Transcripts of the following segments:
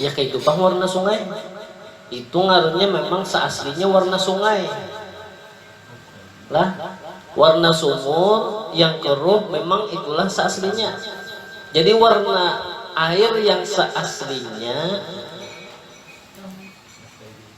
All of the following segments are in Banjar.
Ya kaitu pang warna sungai. Itu ngarannya memang seaslinya warna sungai. Lah, warna sumur yang keruh memang itulah seaslinya. Jadi warna air yang seaslinya.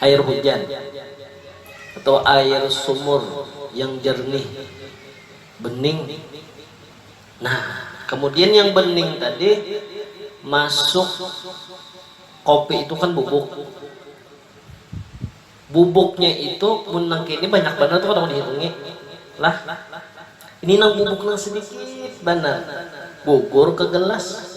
Air hujan atau air sumur yang jernih, bening. Nah, kemudian yang bening tadi masuk kopi itu kan bubuk. Bubuknya itu mun nang kini banyak banar tu kada kawa dihitungi. Lah, ini nang bubuk nang sedikit banar, gugur ke gelas.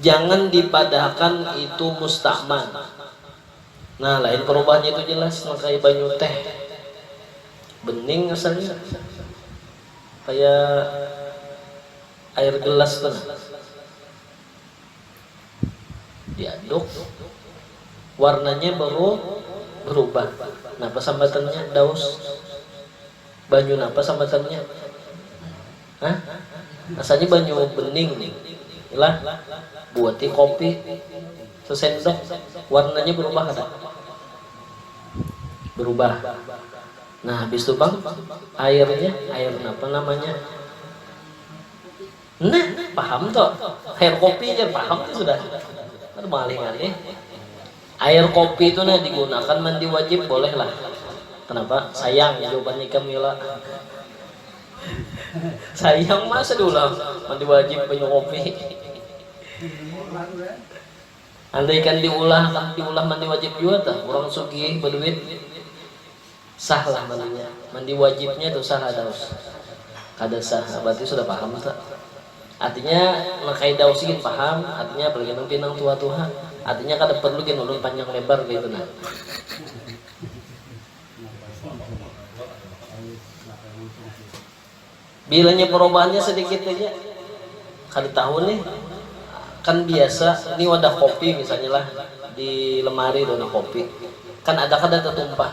Jangan dipadahakan itu musta'man. Nah, lain perubahannya itu jelas nang kaya banyu teh. Bening asalnya. Kaya air gelas tu nah. Diaduk, warnanya baru berubah. Nah, pasambatannya daus. Banyu napa samatannya? Hah? Asalnya banyu bening nih. Ilah buati kopi sesendok warnanya berubah kada? Berubah. Nah habis tu pang airnya, air napa namanya? Nih, paham tuh. Air kopi aja paham tuh sudah. Kan malih ngalih. Air kopi itu nah digunakan mandi wajib boleh lah. Kenapa? Sayang jawaban ikam Yola. Sayang masa diulah mandi wajib banyu kopi. Andaikan diulah akan diulah mandi wajib juga tah orang sugih berduit. Sah lah mandinya. Mandi wajibnya tu sah kada us. Kada sah ha berarti sudah paham ta. Artinya nang kaya dausi gin paham, artinya apalagi nang pinang tua tu ha. Artinya kada perlu gin ulun panjang lebar kaya itu nah. Bilanya perubahannya sedikit haja kada tahu nih kan biasa ini wadah kopi misalnya lah di lemari tu nah kopi kan ada kada tetumpah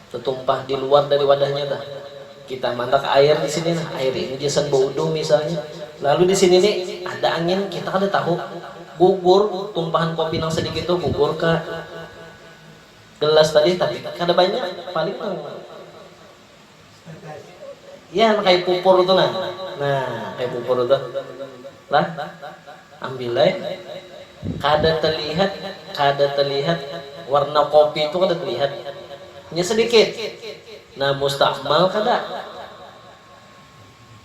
tetumpah di luar dari wadahnya tu kita mandak air di sini nah air ini gasan baudu misalnya lalu di sini ni ada angin kita kada tahu gugur tumpahan kopi nang sedikit tu gugur ka gelas tadi tapi kada banyak paling nang. Iya nang kaya pupur tu nah. Nah, kaya pupur tu. Lah, ambil ai. Kada telihat, kada telihat warna kopi tu kada telihat. Hanya sedikit. Nah, mustamal kada?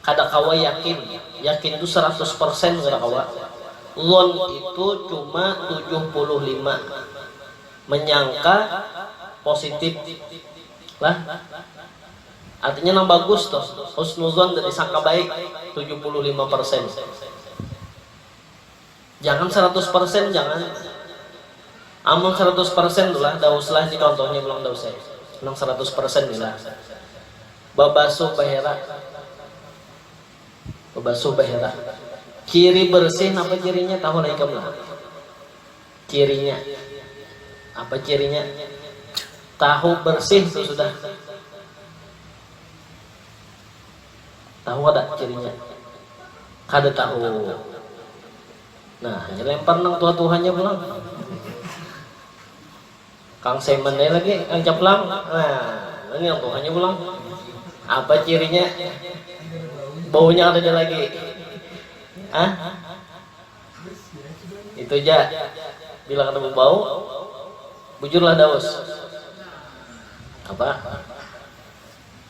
Kada kawa yakin, yakin tu saratus persen kada kawa, lon itu cuma tujuh puluh lima menyangka positip lah, artinya nang bagus tuh, husnudzon tadi sangka baik tujuh puluh lima persen. Jangan saratus persen jangan, amun saratus persen tu lah dauslah ini contohnya pulang daus ai nang saratus persen ni lah babasuh bahera babasuh bahera ciri bersih napa cirinya tahu lah ikam lah cirinya apa cirinya tahu bersih tu sudah. Tahu kada cirinya? Kada tahu. Nah, hanya lempar nang tuha-tuhanya pulang. Kang Semen aja lagi, Kang Caplang. Nah, ini yang tuhanya pulang. Apa cirinya? Baunya ada lagi. Hah? Itu aja. Bila kada berbau, bujurlah daus. Apa?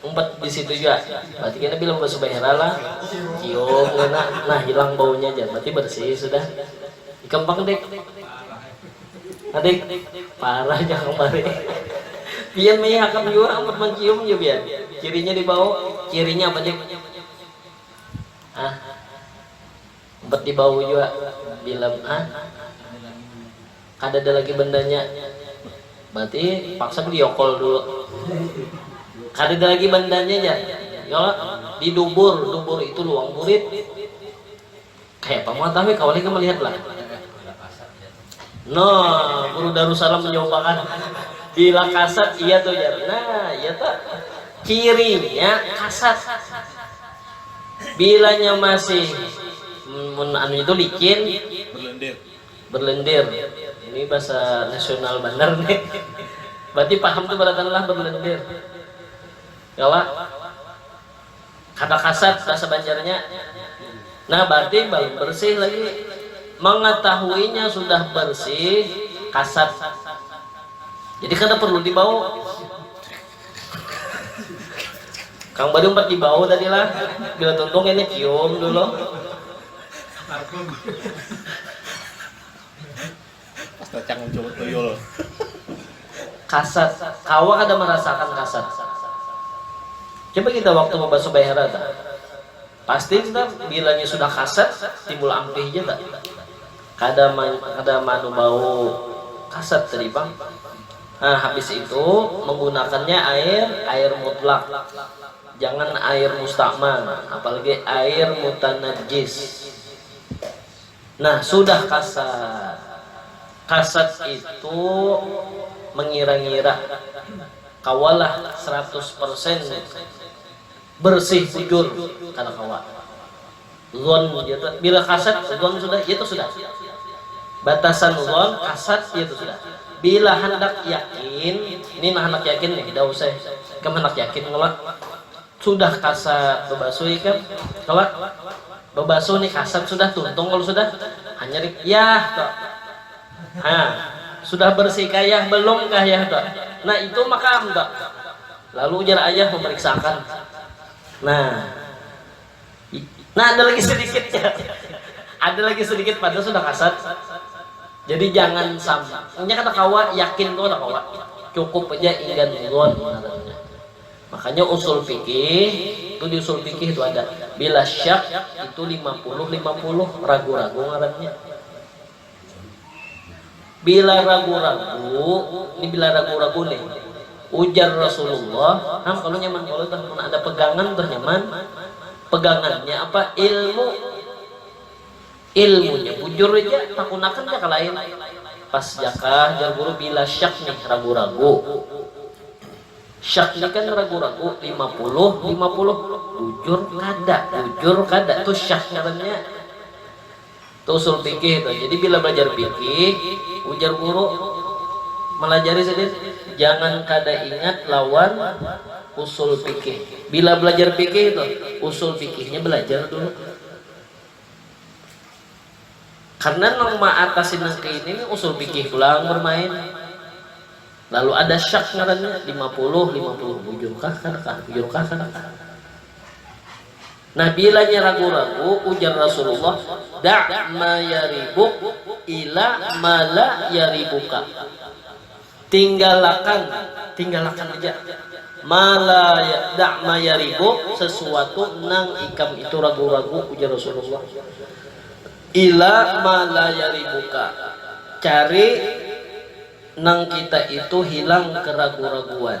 Umpat di situ jua. Berarti kena bila basubahera lah cium kena. Nah hilang baunya ja. Berarti bersih sudah. Ikam pang dik. Ha dik. Parah ja kang bari. Pian maiya hakam jua umpat mancium ja pian. Cirinya di bau. Cirinya apa dik. Ha. Umpat di bau jua bila ha. kadada lagi bandanya berarti paksa beli yokol dulu kadada lagi bandanya jar yola di dubur dubur itu luang burit kayak apa muatan we kawan lagi melihat lah no guru darussalam menjawabakan bila kasat iya tuh jar nah iya tuh cirinya kasat bilanya masih mun anu itu licin berlendir Berlendir, ini bahasa nasional banar ni. Berarti paham tu baratanlah berlendir. Kawa? Kada kasat bahasa Banjarnya. Nah, berarti balum bersih lagi. Mengetahuinya sudah bersih, kasat. Jadi kada perlu dibau. Kang Bari umpat dibau tadi lah. Bila tuntung kayaknya cium dulu. Kasat, kawa kada marasaakan kasat? Coba kita waktu babasuh baihara ta, pasti kita bilanya sudah kasat timbul ampih ja ta, kada kada maanu bau kasat tadi pang. Nah habis itu menggunakannya air, air mutlak. Jangan air musta'mal, apalagi air mutanajjis. Nah, sudah kasat. Kasat itu mengira-ngira kawalah seratus persen bersih bujur, kada kawa. Dhon dia tu, bila kasat dhon sudah iya tu sudah. Batasan dhon, kasat iya tu sudah. Bila handak yakin, ni nah handak yakin nih, dah usah ikam handak yakin kalo sudah kasat babasuh ikam kalo babasuh nih kasat sudah tuntung kalo sudah hanyar yah tu ha sudah bersih kah yah belum kah yah tu nah itu maka am tu lalu ujar ayah memeriksa akan nah. Nah, ada lagi sedikit ya. Ada lagi sedikit pada sudah kasat. Jadi jangan sampai nya kata kawa yakin tuh kata kawa. Cukup aja inggan zon ngarannya. Makanya usul fikih itu di usul fikih itu ada bila syak itu 50 50 ragu-ragu ngarannya. Bila ragu-ragu, ni bila ragu-ragu nih, ujar Rasulullah, Ham kalu nyaman kalu tuh mun ada pegangan tuh nyaman, pegangannya apa? Ilmu. Ilmunya bujur ja, takunakan ja ka lain. Pas ja kah jar guru bila syak nih, ragu-ragu. Syak ni kan ragu-ragu, lima puluh, lima puluh. Bujur kada, bujur kada, tu syak ngarannya. Tu usul pikih tu. Jadi bila belajar pikih, ujar guru, malajari sidin jangan kada ingat lawan usul pikih. Bila belajar pikih tu, usul pikihnya belajar dulu. Karena nang maatasi nang kaini ni usul pikih pulang bermain. Lalu ada syak ngarannya, lima puluh, lima puluh bujur kah kada kah, bujur kah kada kah. Nabila nya ragu-ragu, ujar Rasulullah, Da ma yaribuk ila ma la yaribuka. Tinggalakan, tinggalakan haja, ma la, da ma yaribuk, sesuatu nang ikam itu ragu-ragu, ujar Rasulullah, ila ma la yaribuka, cari nang kita itu hilang keragu-raguan.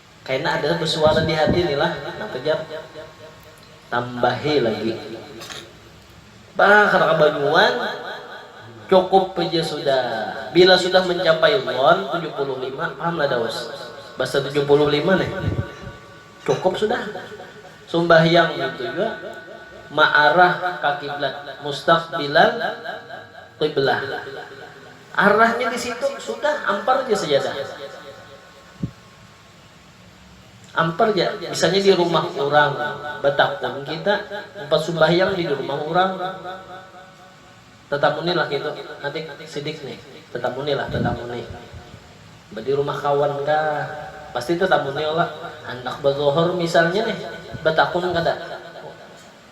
Kaina ada besuara di hati ni lah, napa jar tambahi lagi. Bah kada kabanyuan, cukup haja sudah. Bila sudah mencapai dhon tujuh puluh lima, paham lah daus basa tujuh puluh lima nih, cukup sudah. Sumbahyang ngintu jua ma'arah ka kiblat, mustaqbilal qiblah. Arahnya di situ, sudah ampar haja sajadah. Ampar ja, misalnya di rumah urang batakun kita, umpat sumbahyang di dirumah urang, tatamuni lah kaytu, Adik, sidik nih, tatamuni lah, tatamuni. Ba di rumah kawan kah, pasti tatamuni ola, handak bazohor misalnya nih, batakun kada?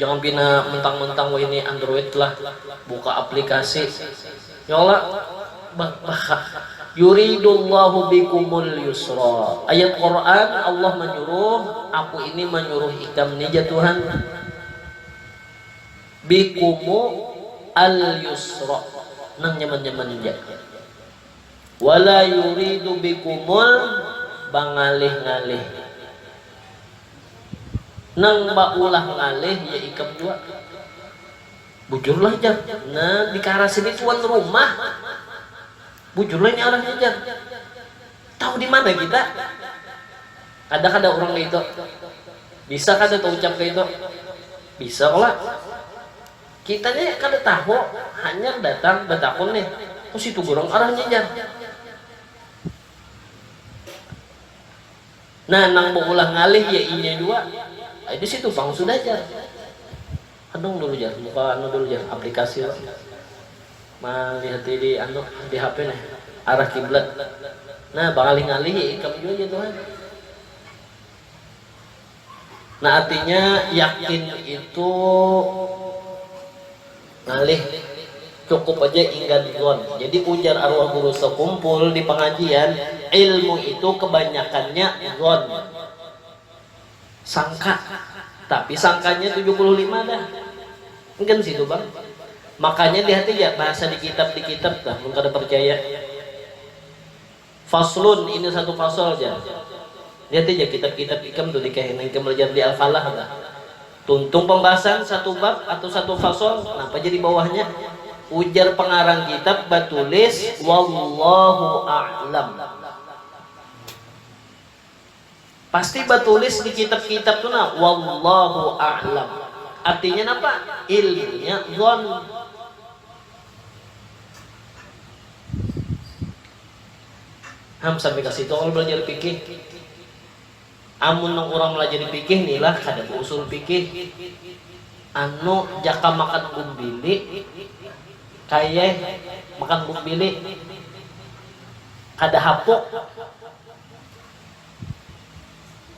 Jangan pina mentang mentang wahini android lah buka aplikasi ya Allah yuridullahu bikumul yusra ayat Quran Allah manyuruh aku ini manyuruh ikam ni ja Tuhan bikumu al yusra nang nyaman nyaman ja wala yuridu bikumul bangalih ngalih Nang baulah ngalih ya ikam jua. Bujur lah jar. Nah dikarasin ni tuan rumah. Bujur lah ini arahnya jar. Tahu dimana kita? Ada kada urang kaya itu? Bisa kada taucap kaya itu? Bisa kala. Kita ni kada tahu, hanyar datang batakun nih. Kositu gurang arahnya jar. Nah nang beulah ngalih ya inya jua, ai di situ pang sudah jar, anung dulu jar buka anu dulu jar aplikasi lo, malihati di anu di hp nih arah kiblat, nah bangalih ngalih ya ikam jua jar tuha. Nah artinya yakin itu. Ngalih, cukup aja inggan dzon. Jadi ujar arwah guru sekumpul di pangajian, ilmu itu kebanyakannya dzon, sangka, tapi sangkanya tujuh puluh lima dah. Enggan sih tu pang. Makanya lihat aja bahasa di kitab di kitab tuh mun kada percaya. Faslun, ini satu fasal ja. Lihat haja kitab-kitab ikam tu di kahinan ikam balajar di Al-Falah bah. Tuntung pambahasan satu bab atau satu fasal, napa ja di bawahnya? Ujar pangarang kitab batulis Wallahu a'lam. Pasti batulis di kitab-kitab tu nah, Wallahu a'lam. Artinya napa? Ilmunya dhon. Ham sampai ka situ kalo balajar fikih. Amun nang urang malajari fikih ni lah kada bausul fikih. Anu jaka makan bumbili kaya makan bumbili kada hapuk.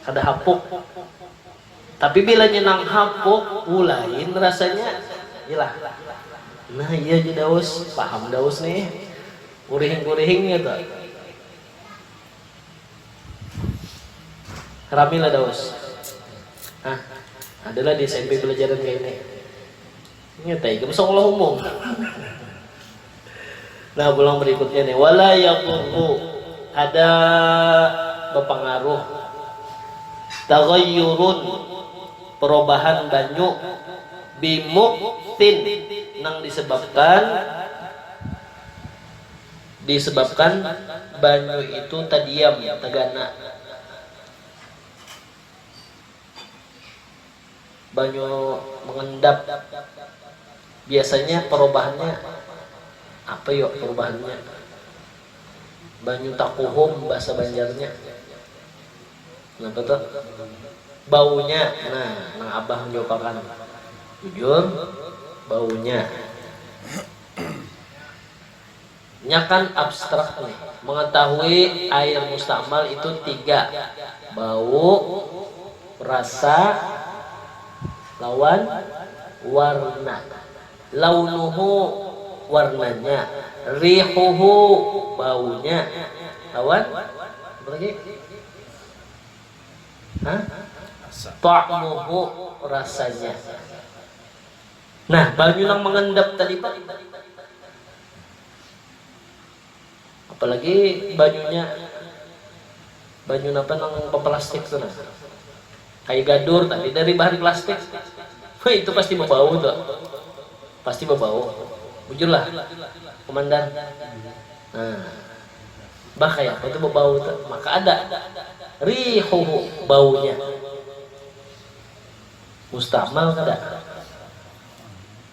Kada hapuk. Tapi bilanya nang hapuk, wu lain rasanya. Ilah. Nah iya ja Daus, paham Daus nih. Kurihing-kurihing kaytu. Rami lah Daus. Hah, ada lah di smp balajaran kaya ini. Nyatai ikam sekolah umum. Nah pulang berikutnya nih wala yadurru kada bapangaruh taghayyurun perubahan banyu bimuktin nang disebabkan disebabkan banyu itu tadiam tagana Banyu mengendap biasanya perubahannya apa yo perubahannya banyu takuhum bahasa banjarnya napa tu baunya nah nang abah manjawab akan bujur baunya. Nyakan abstrak nih, mengetahui air mustamal itu tiga, bau, rasa, lawan warna. Launuhu, warnanya, rihuhu, baunya, lawan apa lagi? Hah? Ta'muhu, rasanya. Nah, banyu nang mengendap tadi pang. Apalagi banyunya banyu napa nang baplastik tu nah. Kayu gadur tadi dari bahan plastik. Wah, itu pasti bebau tu. Pasti bebau. Bujurlah. Komandan. Nah. Bah kaya apa tu bebau tu. Maka ada rihuhu baunya. Mustamal kada?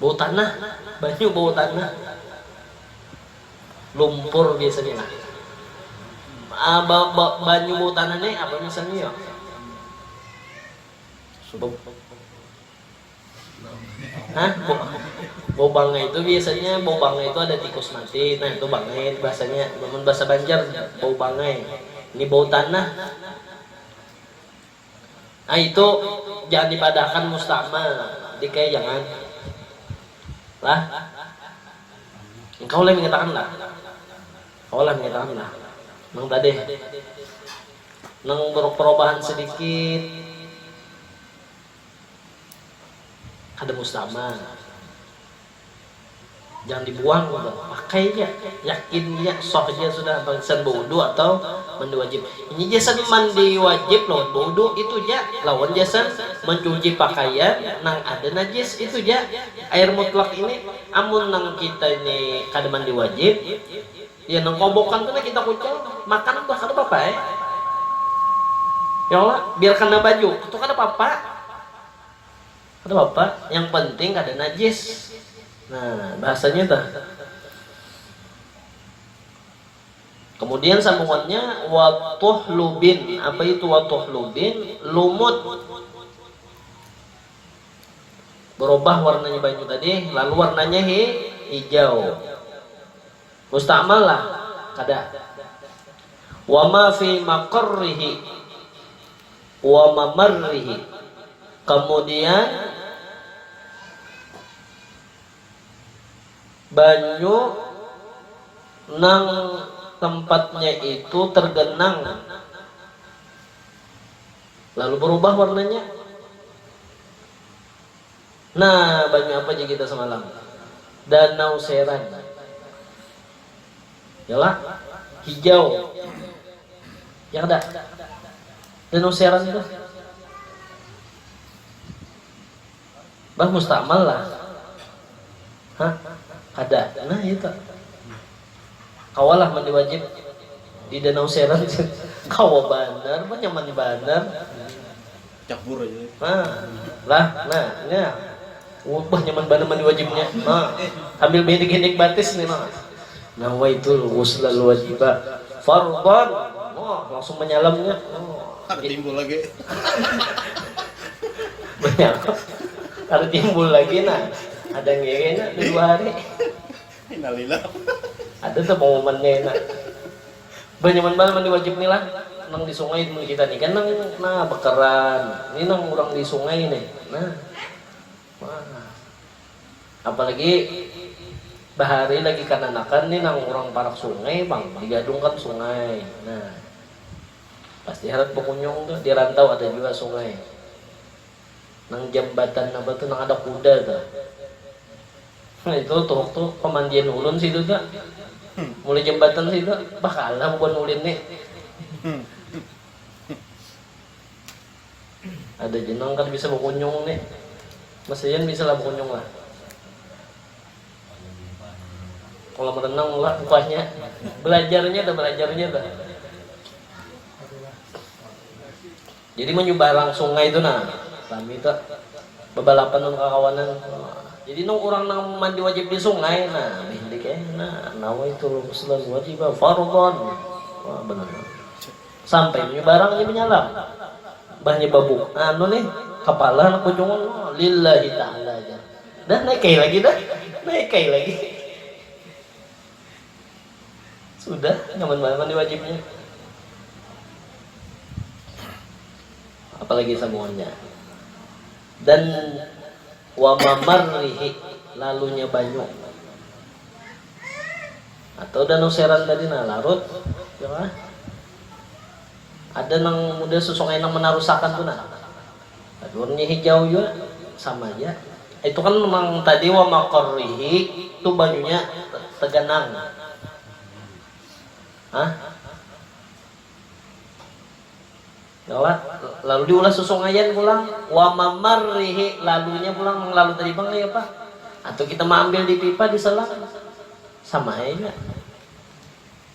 Bau tanah, banyu bau tanah. Lumpur biasanya lah. Ah, ba, ba, banyu bau tanah ni apa misalnya yo? Sebab Hah? Bau bangai itu biasanya bau bangai itu ada tikus mati. Nah, itu bangai bahasanya. Namun bahasa Banjar bau bangai. Ini bau tanah. Nah itu jangan dipadahakan mustamal, dikaya jangan lah. Engkau leh mengatakan lah. Kawa lah mengatakan lah. Nang tadeh. Nang berperubahan sedikit kada mustamal. Jangan dibuang kita, pakai ja, yakin ja, sah ja sudah barisan bawudhu atau mandi wajib. Ini gasan mandi wajib lawan bawudhu itu ja, lawan gasan mancuci pakaian nang ada najis itu ja. Air mutlak ini amun nang kita ini kada mandi wajib, ya nang kobokan tu nah kita kucel, makan bah kada papa ai. Ya kalo? Biar kena baju tu kada papa. Kada papa, yang penting kada najis. Nah, bahasanya tuh. Kemudian sambungannya, wa tuhlubin. Apa itu wa tuhlubin? Lumut. Berubah warnanya banyu tadi, lalu warnanya hi, hijau. Musta'mal lah? Kada. Wa ma fi maqarrihi. Wa mamarrihi, kamudian banyu nang tempatnya itu tergenang lalu berubah warnanya. Nah, banyu apa ja kita semalam? Danau Seran. Yalah, hijau. Ya kada? Danau Seran tuh. Bah mustamal lah. Hah? Kada. Nah, itu. Kawalah mandi wajib di danau seret kawa banar bah nyaman banar cabur aja nah lah nah nya bah nyaman banar mandi wajib nya nah sambil behendek hendek batis nih nah nawaitul ghusla al wajiba fardhon nah langsung manyalam nya nah kada timbul lagi banyak kada timbul lagi nah ada ngewe nya dua hari. Ada tu pamuman kaina. Bah nyaman banar mandi wajib ni lah. Nang di sungai mun kita ni kan nang nah bekeran. Ni nang urang di sungai ni. Nah. Wah. Apalagi bahari lagi kananakan ni nang urang parak sungai pang digadungkan sungai. Nah. Pasti harat bakunyung tu. Di rantau ada jua sungai. Nang jambatan napa tu nang ada kuda tu. Nah itu tuhuk tu pamandian ulun situ tu. Mulai jambatan situ bah kalah bubuhan ulin ni. Ada ja nang kada bisa bakunyung ni. Mas Rian bisa lah bakunyung lah. Kolam renang lah bukanya. Belajarnya tu, belajarnya tu. Jadi manyumbarang sungai tu nah rami tu babalapan nang kakawanan jadi nang urang nang mandi wajib di sungai nah bahindik ai nah nawai tulung salan wajib fardhon wah bananam sampai manyumbarang inya manyalam bah nya babuk anu nih kapala anak bujung lillahi taala jar dah naik kai lagi dah naik kai lagi. Sudah, nyaman banar mandi wajibnya. Apalagi samuanya. Dan wa mamarrihi lalunya banyu atau danau seran tadi nah larut ya kah? ada nang muda susung enang menarusakan tu nah Badurnya hijau jua sama ja. Itu kan nang tadi wa maqarrihi tu bajunya teganang. Hah? Lalu diulah susungaian pulang. Wa mamarrihi lalunya pulang nang lalu tadi pang kaya apa? Atau kita maambil di pipa di selang. Sama ai jua.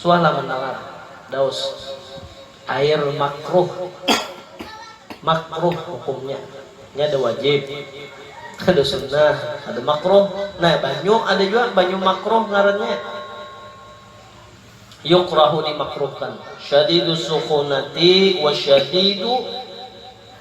Suah lah mandangar daus air makruh makruh hukumnya nya ada wajib ada sunnah ada makruh nah banyu ada jua banyu makruh ngarannya yukrahu dimakruhkan syadidus sukhunati wa syadidu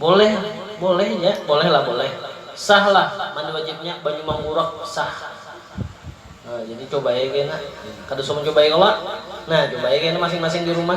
Boleh boleh nya boleh lah boleh sah lah mandi wajibnya banyu manggurak sah nah, jadi cobai kena kada usah mencobai kala nah cobai kena masing-masing di rumah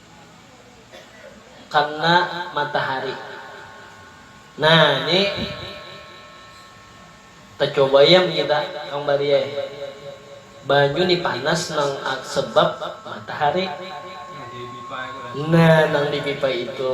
kena matahari. Nah, ini tacoba ayam kita Kang Bari ai. Banyu ni panas nang sebab matahari. Nah, nang dipipa itu.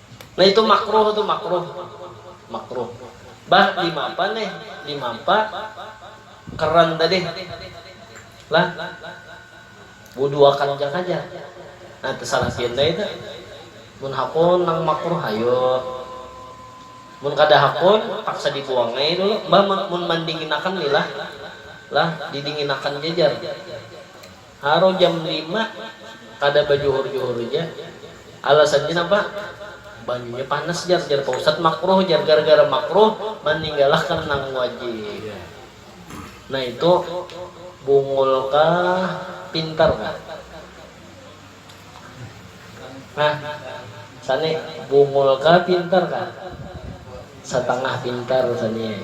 Nah itu makruh tu makruh makruh bah dimapa nih dimapa keran tadi lah buduakan ja kaja nah tesalah pian dai tu mun hakun nang makruh hayu mun kada hakun paksa dibuang ai dulu bah mun mandinginakan lila lah didinginakan ja jar. Haru jam lima kada bajuhur-juhur ja. Alasannya napa? Banyunya panas jar, jar pa ustad makruh jar, gara-gara makruh maninggalakan nang wajib. Nah itu bungul kah pintar kah? Hah sani bungul kah pintar kah? Satangah pintar sani ai.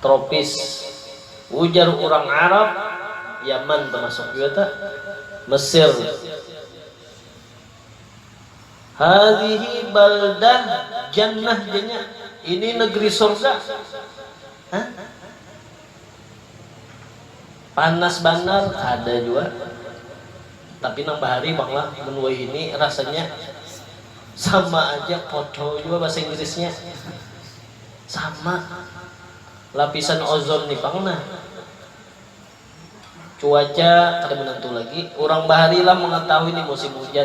tropis. Ujar urang Arab, Yaman tamasuk jua ta, Mesir. Hadhihi baldah jannah janya, ini negeri surga. Hah? Panas banar ada jua tapi nang bahari pang lah mun wahini rasanya sama aja podo jua bahasa inggrisnya sama lapisan ozon ni pang nah cuaca kada menentu lagi urang bahari lah mengetahui ni musim hujan.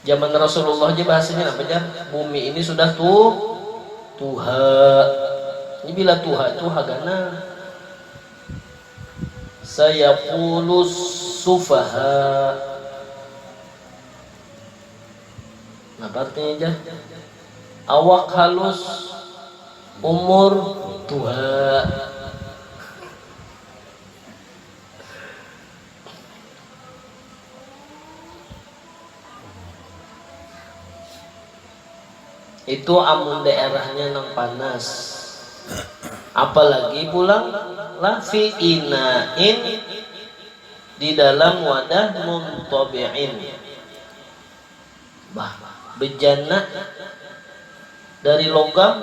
Zaman Rasulullah aja bahasanya apa jar? Bumi ini sudah tu tuha. Ini bila tuha itu hagana. Saya kulus sufaha. Nah, artinya jar? Awak halus, umur tuha. Itu amun daerahnya nang panas. Apalagi pulang lah fi ina'in di dalam wadah muntabi'in. Bah, bejana dari logam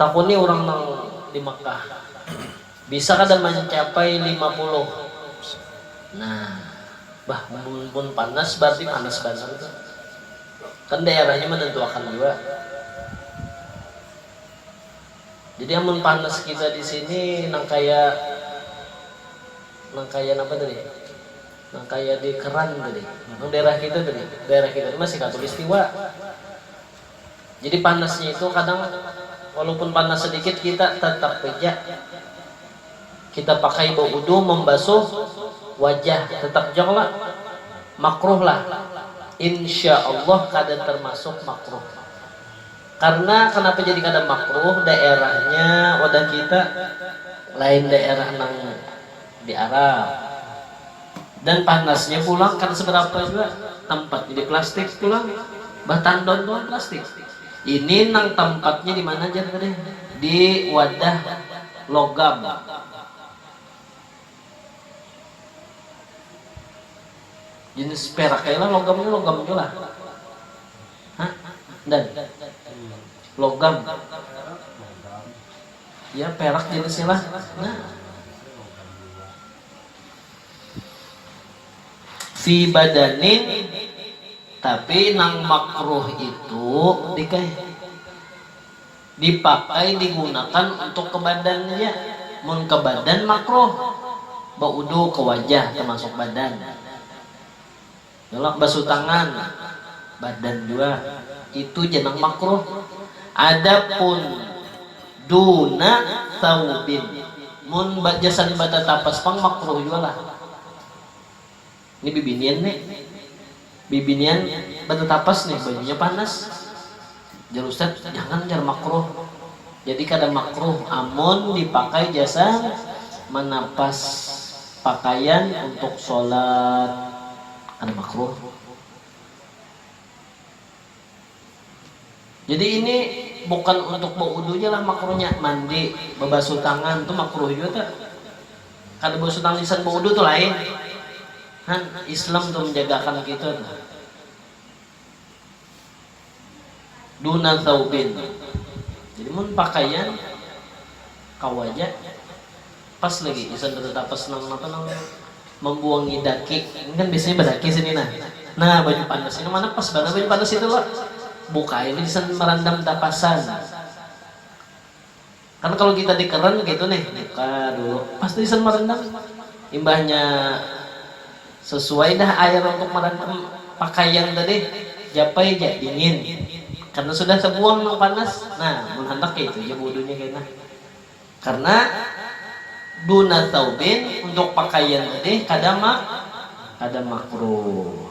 Takuni urang nang di Mekah, Bisa kada mancapai lima puluh? Nah, bah mun mun panas bararti panas banar tu. Kan daerahnya manantuakan jua. Jadi amun panas kita di sini nang kaya nang kaya napa tadi? Nang kaya di Keran tadi. Nang daerah kita tadi. Daerah kita ni masih khatulistiwa. Jadi panasnya itu kadang walaupun panas sedikit kita tetap beja kita pakai baudu membasuh wajah tetap jua kalo makruh lah insya Allah kada termasuk makruh karna kenapa jadi kada makruh daerahnya wadah kita lain daerah nang Di arah. Dan panasnya pulang kada seberapa jua, tampatnya di plastik pulang, bah tandon pulang plastik. Ini nang tampatnya di mana jar tadi, di wadah logam. Jenis perak ai lah logam ni, logam jua lah. Ha, Dan? Logam. Ya perak jenisnya lah nah. Fi badanin tapi nang makruh itu dikeh dipakai digunakan untuk ke badan ja mun ke badan makruh baudu ke wajah termasuk badan Tulak basuh tangan, badan jua. Itu ja nang makruh. Adapun duna tsaubin, mun gasan batatapas pang makruh jua lah. Ni bibinian ni, bibinian batatapas ni bajunya panas. Jar ustad, jangan jar makruh. Jadi kada makruh amun dipakai jasa manapas pakaian untuk sholat, kada makruh. Jadi ini bukan untuk baudu ja lah makruhnya, mandi, babasuh tangan tu makruh jua ta. Kada basuh tangan gasan baudu tu lain. Han, Islam tu manjagakan kita tu. Duna tsaubin, jadi mun pakaian kawa ja pas lagi gasan batatapas nang napa nang mambuangi daki, ini kan biasanya badaki sini nah, nah baju panas ini mana pas banar baju panas itu lo, bukai lo gasan marandam tapasan. Kan kalu kita di keren kaitu nih, buka dulu, pas tu gasan marendam. Imbahnya sesuai dah air untuk marendam pakaian tadi, japai ja dingin. Karna sudah tebuang nang panas, nah mun handak kaitu ja budunya kena. Karna duna tsaubin, untuk pakaian tadi kada mak kada makruh.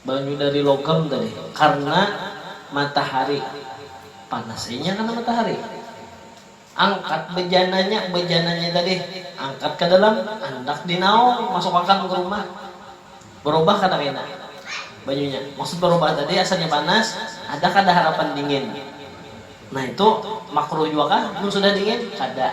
Banyu dari logam tadi karna matahari panas inya karna matahari. Angkat bejananya, bejananya tadi angkat ke dalam handak dinaung masuk akan ke rumah berubah kada kena banyunya maksud berubah tadi asalnya panas ada kada harapan dingin nah itu makruh jua kah mun sudah dingin kada.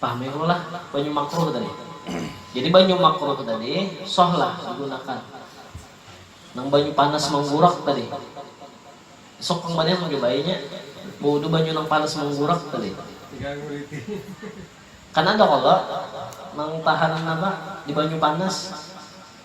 Pahami ulun lah banyu makruh tadi. Jadi banyu makruh tadi soh lah digunakan. Nang banyu panas manggurak tadi. Esok pang banian mencobainya baudu banyu nang panas manggurak tadi. Kan ada kalo nang tahan apa di banyu panas.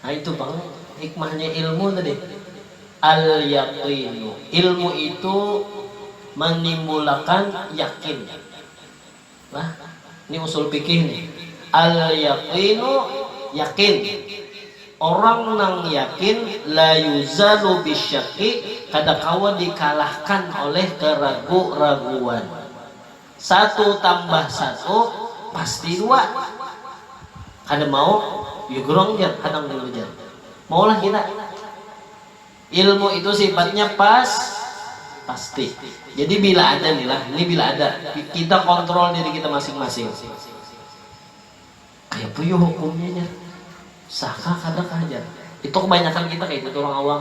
Nah itu pang hikmahnya ilmu tadi. Al yaqinu, ilmu itu manimbulakan yakin. Nah, ni usul fikih nih. Al yaqinu yakin. Orang nang yakin la yuzalu bisyaki kada kawa dikalahkan oleh keragu-raguan. Satu tambah satu pasti dua. Kada mau ya gerang jar hanang jua jar. Maulah kita. Ilmu itu sifatnya pas pasti. Jadi bila ada nih lah, ini bila ada. Kita kontrol diri kita masing-masing. Kaya apa yu hukumnya jar? Sah kah kada kah jar? Itu kebanyakan kita kaya itu tuh orang awam.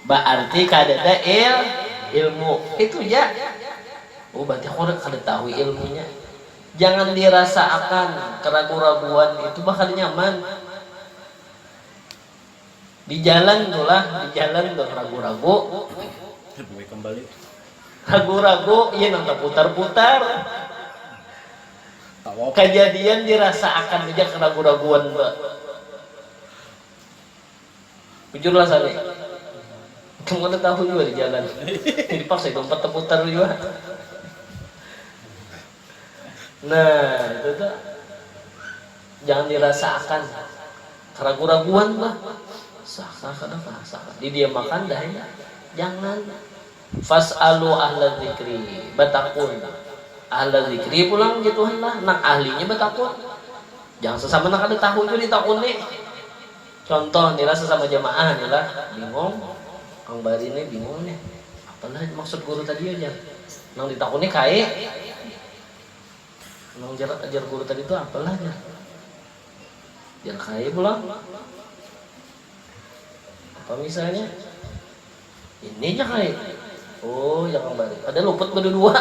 Baarti kadada il ilmu. Itu ja. Oh berarti aku kada tahu ilmunya. Jangan dirasa akan keragu-raguan itu bah kada nyaman. Di jalan tu lah, di jalan tu ragu-ragu. Ragu-ragu, iya nang taputar-putar. Kajadian dirasaakan haja karagu-raguan ba bujur lah sani ikam kada tahu jua dijalan jadi paksa ikam umpat taputar jua nah itu tu jangan dirasaakan karagu-raguan ba sah kah kada kah sah kah didiamakan dah ini jangan. Fas'aluu ahla dzikri, batakun. Ahla dzikri pulang jar Tuhan lah, nang ahlinya batakun. Jangan sasama nang kada tahu jua ditakuni. Contoh ni lah sasama jamaah ni lah, bingung, Kang Bari ni bingung nih, apa lah maksud guru tadi yo jar. Nang ditakuni kae, nang jar ajar guru tadi tu apa lah jar. Jar kae pulang. Apa misalnya. Ini nya ai. Oh, ya kambari. Kada luput badudua.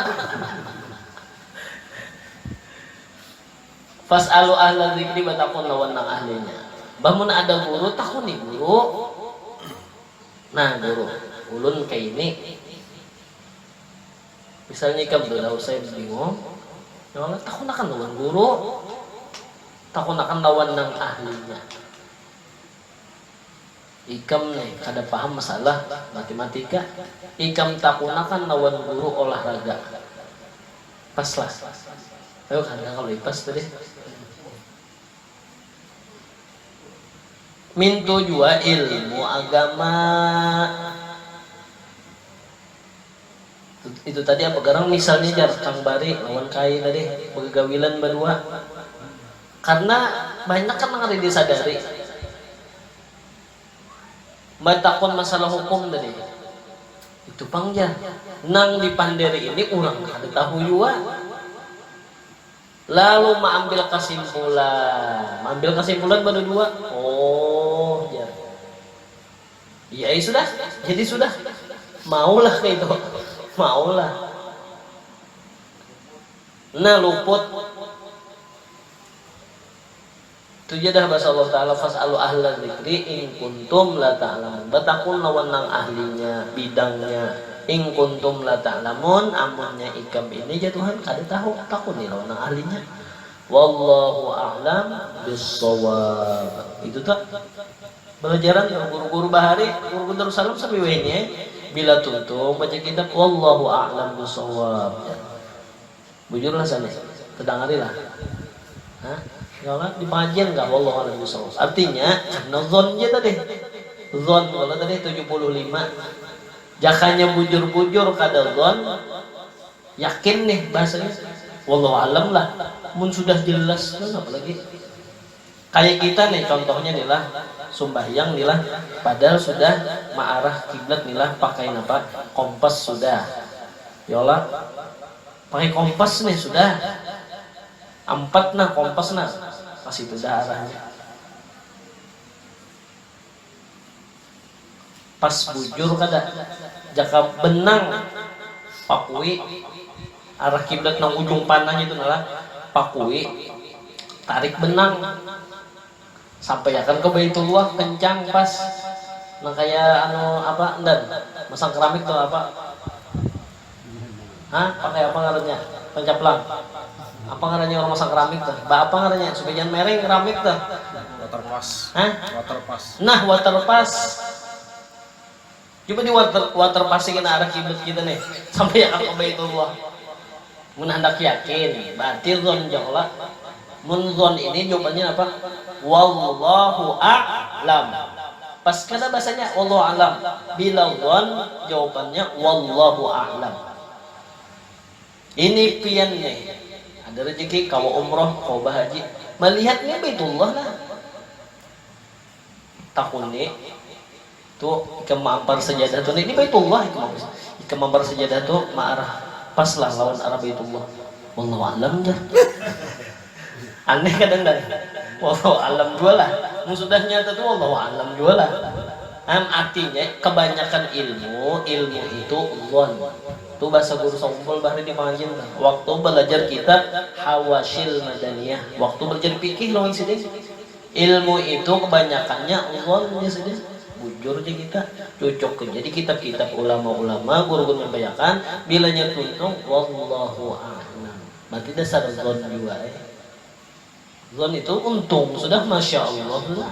Fas'alu ahla dzikri batakun lawan nang ahlinya. Bah mun ada guru takuni guru. Nah guru, ulun kaini. Misalnya ikam tu dah usai bingung, ya kalo takunakan lawan guru. Takunakan lawan nang ahlinya. Ikam ni kada paham masalah matematika, ikam takunakan lawan guru olah raga. Pas lah. Ayu kan kah kalu ipas tu deh. Mintu jua ilmu agama. Itu tadi apa garang misalnya jar kang bari lawan kai tadi bagagawilan badua. Karna banyak kan nang kada disadari. Batakun masalah hukum tadi. Itu pang jar. Nang dipanderi ini urang kada tahu jua. Lalu maambil kasimpulan. Maambil kasimpulan badadua. Oh jar. Iya ai sudah. Jadi sudah. Maulah kaitu. Maulah. Nah luput. Tuja dah basa Allah Ta'ala, Fas'alu ahla dzikri in kuntum la ta'lamun, batakun lawan nang ahlinya, bidangnya, in kuntum la ta'lamun, amunnya ikam ini jar Tuhan kada tahu, takuni lawan nang ahlinya. Wallahu a'lam bissawab. Itu tu balajaran tu guru-guru bahari, guru-guru Darussalam sampai wahini ai bila tuntung baca kitab Wallahu a'lam bissawab jar. Bujur lah sani, tadangari lah. Hah? Kalo di pangajian kah? Wallahu a'lam bishawab. Artinya, karna dzon ja tadi. Dzon kalo tadi tujuh puluh lima. Jakanya bujur-bujur kada dzon, yakin nih bahasanya. Wallahu a'lam lah. Mun sudah jelas tu napa lagi. Kaya kita nih contohnya nih lah, sumbahyang nih lah, padahal sudah maarah kiblat nih lah pakai napa, kompas sudah. Yo lah. Pakai kompas nih sudah. Ampat nah kompas nah. Masih tudah arahnya. Pas bujur kada, jaka benang Pakui arah kiblat nang ujung pananya itu nalah, Pakui tarik benang sampaiakan ke Baitullah kencang pas nang kaya anu apa ndan masang keramik tu apa. Hah pakai apa ngarannya pancaplang apa ngarannya orang masang keramik tuh ba apa ngarannya supaya jangan mereng keramik tuh waterpass Hah? waterpass nah waterpass coba di water waterpass ini arah kiblat kita nih sampai akan ke Baitullah mun hendak yakin berarti zon jauh lah Mun zon ini jawabannya apa? Wallahu a'lam. Pas kada basanya wallahu a'lam. Bila zon jawabannya wallahu a'lam. Ini pian nih ada rejeki kawa umroh, kawa bahaji. Malihat nih Baitullah lah. Takuni, tu ikam maampar sajadah tu ini baitullah ikam am ikam maampar sajadah tu maarah pas lah lawan arah baitullah wallahu alam jar aneh kada nang wallahu alam jua lah mun sudah nyata tu wallahu alam jua lah am artinya kabanyakan ilmu ilmu itu dhon tu bahasa guru saumpul bahari di pangajian tu waktu balajar kitab hawasyil madaniyah waktu balajar fikih lawan sidin. Ilmu itu kebanyakannya zon ja sudah, bujur ja kita, cucuk haja di kitab-kitab ulama-ulama guru-guru nyampaiakan, bilanya tuntung wallahu a'lam, berarti dasar zon jua ai. Zon itu untung sudah, masya Allah sudah.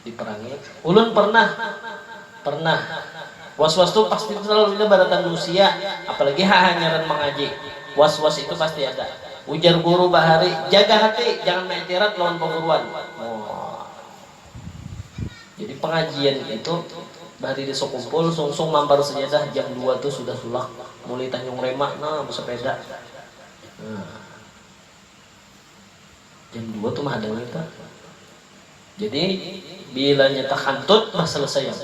Diperangi, Ulun pernah, pernah. Was-was tu pasti selalunya baratan nusia, apalagi hahanyaran mangaji. Was-was itu pasti ada. Ujar guru bahari, Jaga hati, jangan maiktirat lawan paguruan. Jadi pengajian itu bahari di Sukumpul, sungsung mampar sajadah jam dua tu sudah tulak. Mulai Tanjung Rema nah besepeda. Jam dua tu mah ada lagi kah? Jadi bila nyetak hantut bah selesai am.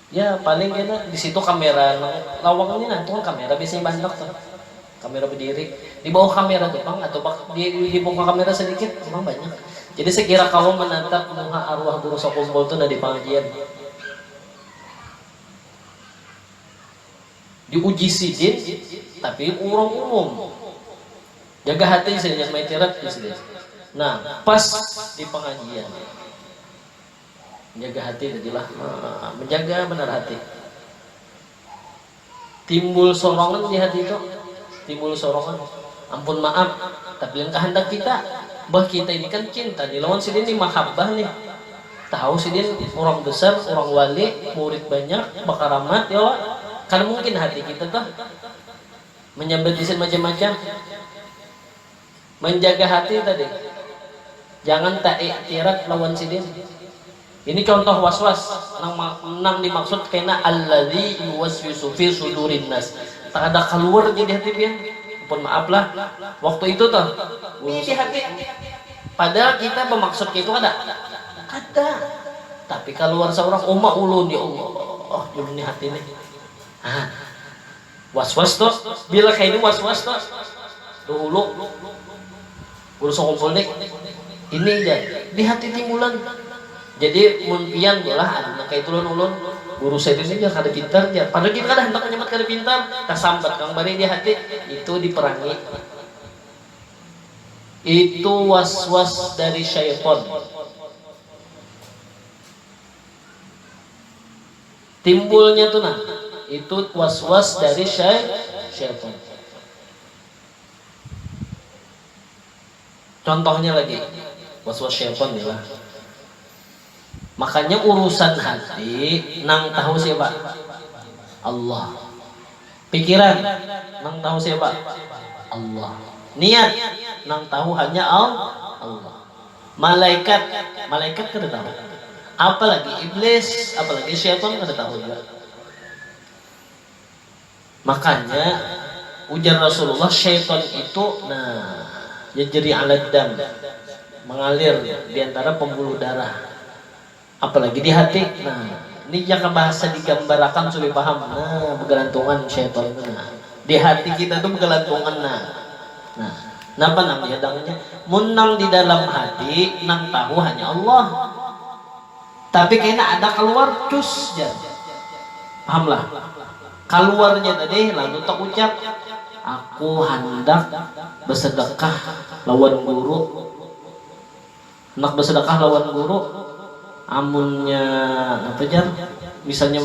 Ya paling kena di situ kamera nang lawang ni nah itu kan kamera biasanya bah handak tuh. Kamera bediri. Di bawah kamera tu pang atau bah di di muka kamera sedikit memang banyak. Jadi sekira kawa menatap muha arwah guru sekumpul tu nah di pengajian. Diuji sidin, tapi urang umum. Jaga hati sidin, jangan main tirat ujar sidin. Nah, pas di pangajian. Menjaga hati tadi lah. Menjaga benar hati. Timbul sorongan di hati itu. Timbul sorongan. Ampun maaf, tapi yang kehendak kita. Bah kita ini kan cinta nih lawan sidin nih, mahabbah nih. Tahu sidin urang besar, urang wali, murid banyak, bakaramat ya kalo? Kada mungkin hati kita tuh manyambat isin macam-macam. Manjaga hati tadi, jangan ta'iktirat lawan sidin. Ini contoh was-was nang nang dimaksud kena alladzi yuwaswisu fi sudurinnas, kada kaluar jadi hati pian. Ampun maaf lah, waktu itu tuh guru. Di hati. Pada kita bamaksud kaitu kada? Kada. Tapi kaluar saurang, uma ulun, ya Allah, ulun ni hati nih. Ha. Was-was tu. Bila kaya ini was-was tu. Dahulu guru sakumpul nih, ini jar, di hati timbulan. Jadi mun pian tu lah ada nang kaitu lawan ulun. Guru saya tu ini jar kada pintar jar. Padahal kita kada handak manyambat kada pintar. Tasambat pang barii di hati. Itu diperangi. Itu was-was dari syaiton. Timbulnya tu nah, itu was-was dari syai syaiton. Contohnya lagi, was-was syaiton ni lah. Makanya urusan hati nang tahu siapa? Allah. Pikiran nang tahu siapa? Allah. Niat nang tahu hanya Allah. Malaikat, malaikat kada tahu. Apalagi iblis, apalagi syaitan kada tahu jua. Makanya, ujar Rasulullah, syaitan itu, nah, yajri alad dam, mangalir di antara pembuluh darah, apalagi di hati. Nah, ni jaka bahasa digambarakan sudah paham, nah, bagalantungan syaitan tu nah, di hati kita tu bagalantungan nah. Nah, napa nang yadangnya? Mun nang di dalam hati, nang tahu hanya Allah. Tapi kaina ada kaluar, cus jar. Pahamlah? Kaluarnya tadi lalu taucap, Aku handak besedekah lawan guru. Handak besedekah lawan guru, amunnya napa jar, misalnya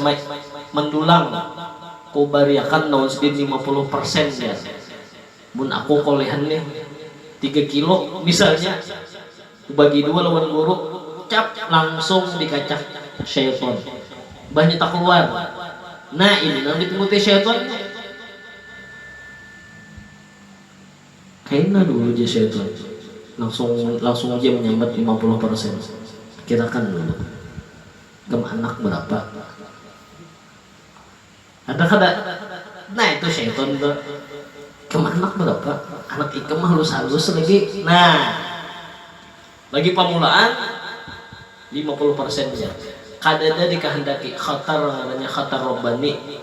mandulang, kubariakan lawan sidin lima puluh persen jar. Mun aku kolehan nih tiga kilo misalnya. Bagi dua lawan guru, cap langsung dikacak syaiton. Mbahnya takuwar. Nah ini nang ditunguti syaiton nya. Kaina dulu jar syaiton. Langsung langsung haja manyambat lima puluh parsen. Kirakan dulu. Ikam anak barapa? Ada kada? Nah itu syaiton tu. Ikam anak barapa? Anak ikam halus-halus lagi. Nah, bagi pamulaan lima puluh persen ja. Kadada dikahandaki khatar ngarannya khatar rabbani.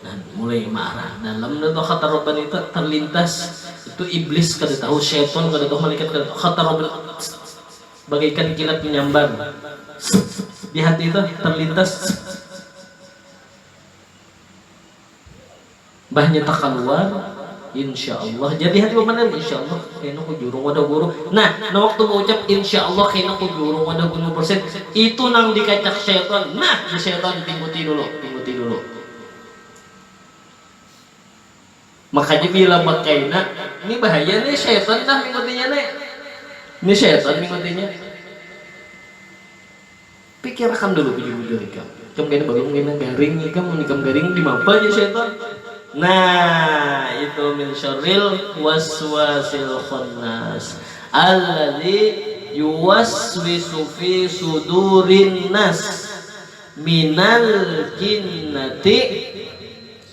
Nah, mulai maarah dalam dah tu khatar rabbani tu, terlintas. Itu iblis kada tahu, syaiton kada tahu, malaikat kada tahu. Khatar rabbani bagaikan kilat menyambar di hati tu, terlintas. Mbahnya takaluar, Insya Allah. Jadi hati bamandir, Insya Allah kena ku jurung wadah guru. Nah, nang waktu baucap Insya Allah kena ku jurung wadah guru persen, itu nang dikacak syaitan. Nah, jar syaitan, tingkuti dulu, tingkuti dulu. Makanya bila bakaina, ni bahaya ni, syaitan dah mingkutinya ni. Ni syaitan mingkutinya. Pikir akan dulu bujur-bujur ikam, ikam kena balum kena garing ikam, mun ikam garing dimapa jar syaitan, nah itu min syarril waswasil khannas alladzi yuwaswisu fi sudurin nas minal jinnati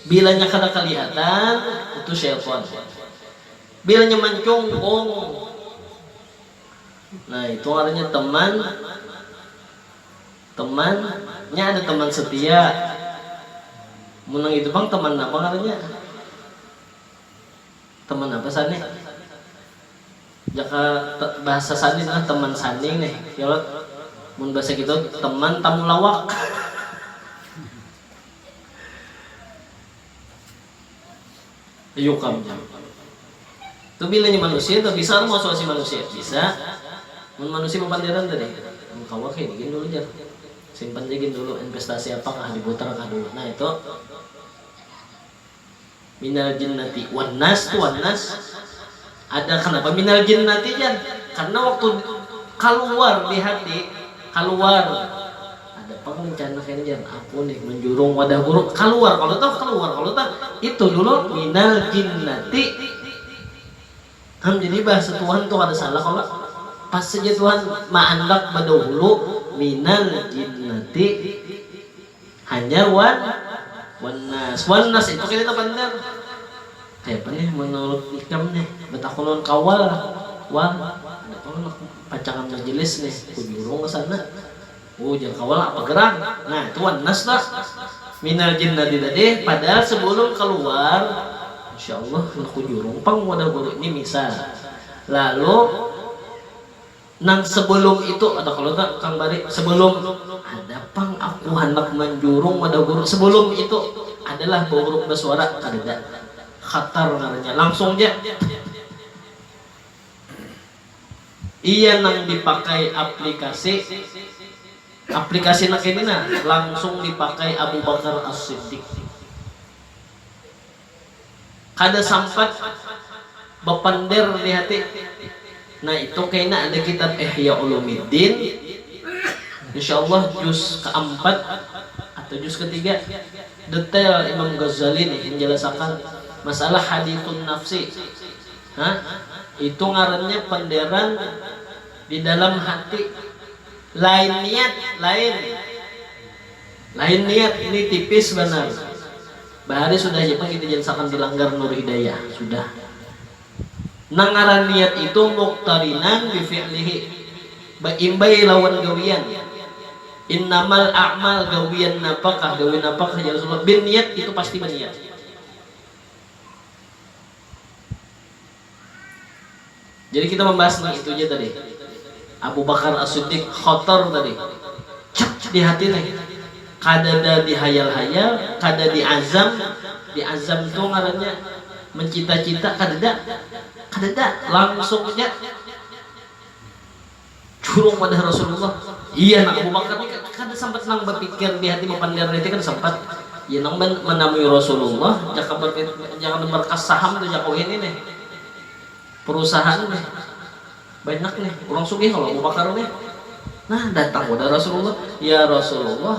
bilanya kada kalihatan itu syaitan bilanya mancungkung Nah itu ngarannya teman teman nya ada teman setia mun nang itu pang teman napa ngarannya teman apa sani jaka bahasa sani nah teman sani nih ya lo mun bahasa kita teman tamu lawak Ayukamnya. Tu bilanya manusia tu bisa kah mausuasi manusia? Bisa. Mun manusia bapanderan tadi, mun kawa kah ini gin dulu jar. Simpan ja gin dulu, investasi apa kah, diputar kah dulu. Nah itu. Minal jinnati wan nas tu wan nas. Ada kanapa minal jinnati jar, karna waktu kaluar di hati kaluar ada pang rencana kena jar aku nih menjurung wadah guru kaluar kalu tuh kaluar kalu tuh itu dulu minal jinnati am jadi bah setuhan tuh kada salah kalo pas saja tuhan maandak badahulu minal jinnati. Hanyar wan wanas. Wanas itu kita banar. Kaya apa nih menurut ikam nih? Batakun lawan kawal. Wal, ada pang anak pacangan majelis nih, kujurung ka sana. Uh, jar kawal, apa gerang? Nah, itu wanas tu. Minal jinnati tadi, padahal sebelum kaluar, Masya Allah, handak kujurung pang wadah bulik ni, misal. Lalu. Nang sebelum itu, kada kalu ta kang bari, sebelum ada pang aku handak manjurung wadah guru, sebelum itu adalah bauruk basuara, kadada, khatar ngarannya, langsung ja. Iya nang dipakai aplikasi, aplikasi nang kini nah langsung dipakai Abu Bakar As-Siddiq. Kada sampat bapander di hati, nah itu kaina ada kitab Ihya Ulumiddin, insya Allah juz kaampat atau juz katiga, detail Imam Ghazali nih manjalasakan masalah hadithun nafsi, ha itu ngarannya panderan di dalam hati, lain niat, lain lain niat, ni tipis banar. Bahari sudah ja pang kita jansakan balanggar Nur Hidayah, sudah. Nang ngaran niat itu muqtarinan bi fi'lihi, baimbai lawan gawian. Innamal a'mal gawian napakah, gawian napakah jar Rasulullah, binniyat itu pasti baniat. Jadi kita membahas nih itu aja tadi. Abu Bakar As-Siddiq khotor tadi. Cek di hati nih. Kadada dihayal-hayal, kada diazam, diazam tu ngarannya mencita-cita kadada. Kadada, langsung aja. Curung wadah Rasulullah. Iya nah, Abu Bakar ni kada sampat nang bapikir di hati bapandir niti kada sampat. Iya nang manamui Rasulullah jaka jaka nukar kas saham tu jaku ini nih. Perusahaan nih. Banyak nih. Urang sugih kalo Abu Bakar nih. Nah, datang wadah Rasulullah. Ya Rasulullah,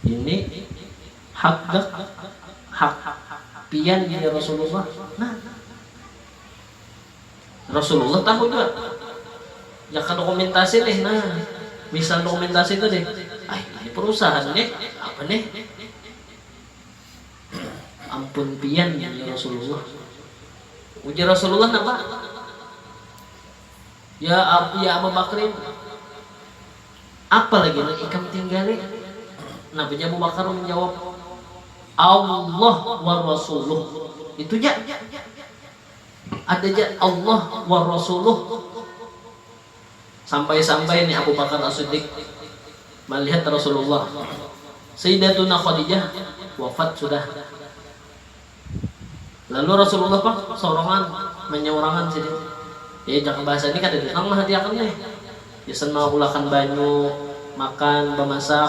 ini hak gak? Hak pian ini ya Rasulullah. Nah. Rasulullah tahu jua. Jaka dokumentasi nih, nah misal dokumentasi itu nih, ah ini perusahaan nih, apa nih? Ampun pian ya Rasulullah. Ujar Rasulullah napa? Ya, ya Abu Bakrin, apa lagi nang ikam tinggali? Napa ja Abu Bakar menjawab, Allah wa Rasuluh. Itu ja. Ada ja Allah wa rasuluh. Sampai-sampai ni Abu Bakar As-Siddiq malihat Rasulullah. Sayyidatuna Khadijah wafat sudah. Lalu Rasulullah pang sorongan, manyaurangan sidin. Ya jaka bahasa ni kadada nang mahatiakan nih. Gasan maulakan banyu, makan, bamasak.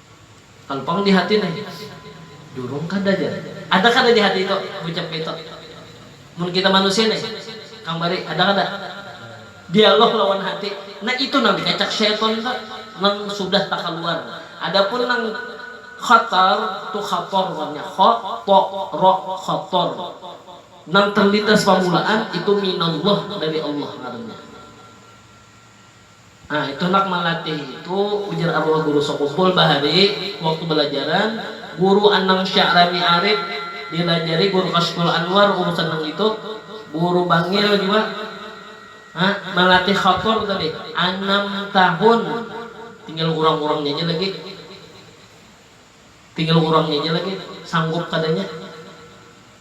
Kalo pang di hati nah, durung kada jar. Ada kada di hati itu ucap kaitu? Mun kita manusia nih, Kang Bari, ada kada? Dialog lawan hati. Nah itu nang dikacak syaitan tu, nang sudah takaluar. Ada pun nang khatar, tu khator warnya, kha, to, ro, khator. Nang terlintas pamulaan itu minallah, dari Allah ngarannya. Nah itu nak malatih itu, ujar arwah guru sakumpul bahari waktu balajaran, guru anang sya'rani arip dilajari guru kashful anwar urusan nang itu, guru bangil jua ha malatih khator tadi anam tahun tinggal urang urangnya ja lagi tinggal urangnya ja lagi sanggup kadanya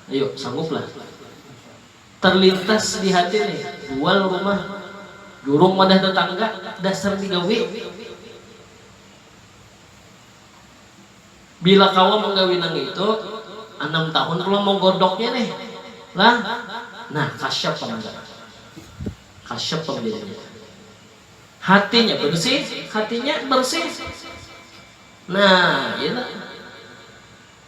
ayu sanggup lah. Terlintas di hati nih, jual rumah, jurung wadah tetangga, dasar digawi. Bila kawa menggawi nang itu, anam tahun pulang mau godoknya nih lah. Nah, kasyap pang jar. Kasyap pang jadinya. Hatinya bersih, hatinya bersih. Nah, itu.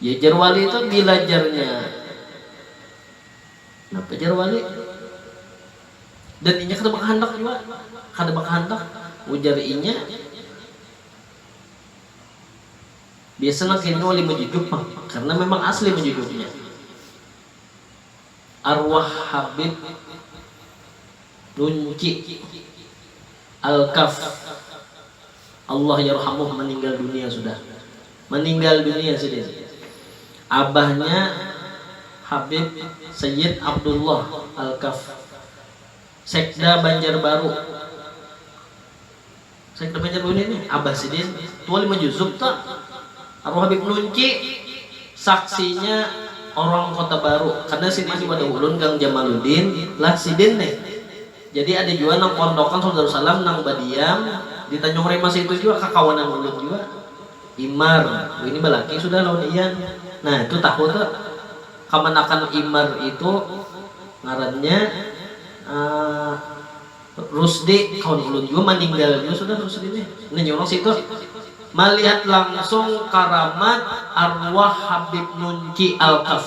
Ya jar wali tu bila jarnya napa jar wali dan inya kada bakahandak jua kada bakahandak ujar inya biasa nang kaya ini wali majujuk pang karna memang asli majujuknya arwah habib nunci alkaf. Allah yarhamuh meninggal dunia sudah meninggal dunia sidin abahnya habib sayyid abdullah alkaf sekda banjarbaru sekda banjarbaru ini nih abah sidin tua lima juzub ta arwah habib nunci saksinya orang kota baru karna sma diwadah ulun gang jamaludin lah sidin nih. Jadi ada jua nang pondokan Saud Darussalam nang badiam di Tanjung Rema seitu jua kakawanan ulun jua. Imar, wini balaki sudah lawan Ian. Nah itu tahu tu kamanakan Imar itu ngarannya Rusdi kawan ulun jua maninggal jua sudah Rusdi nih. Nah inya urang seitu malihat langsung karamat arwah Habib Nunci Alkaf.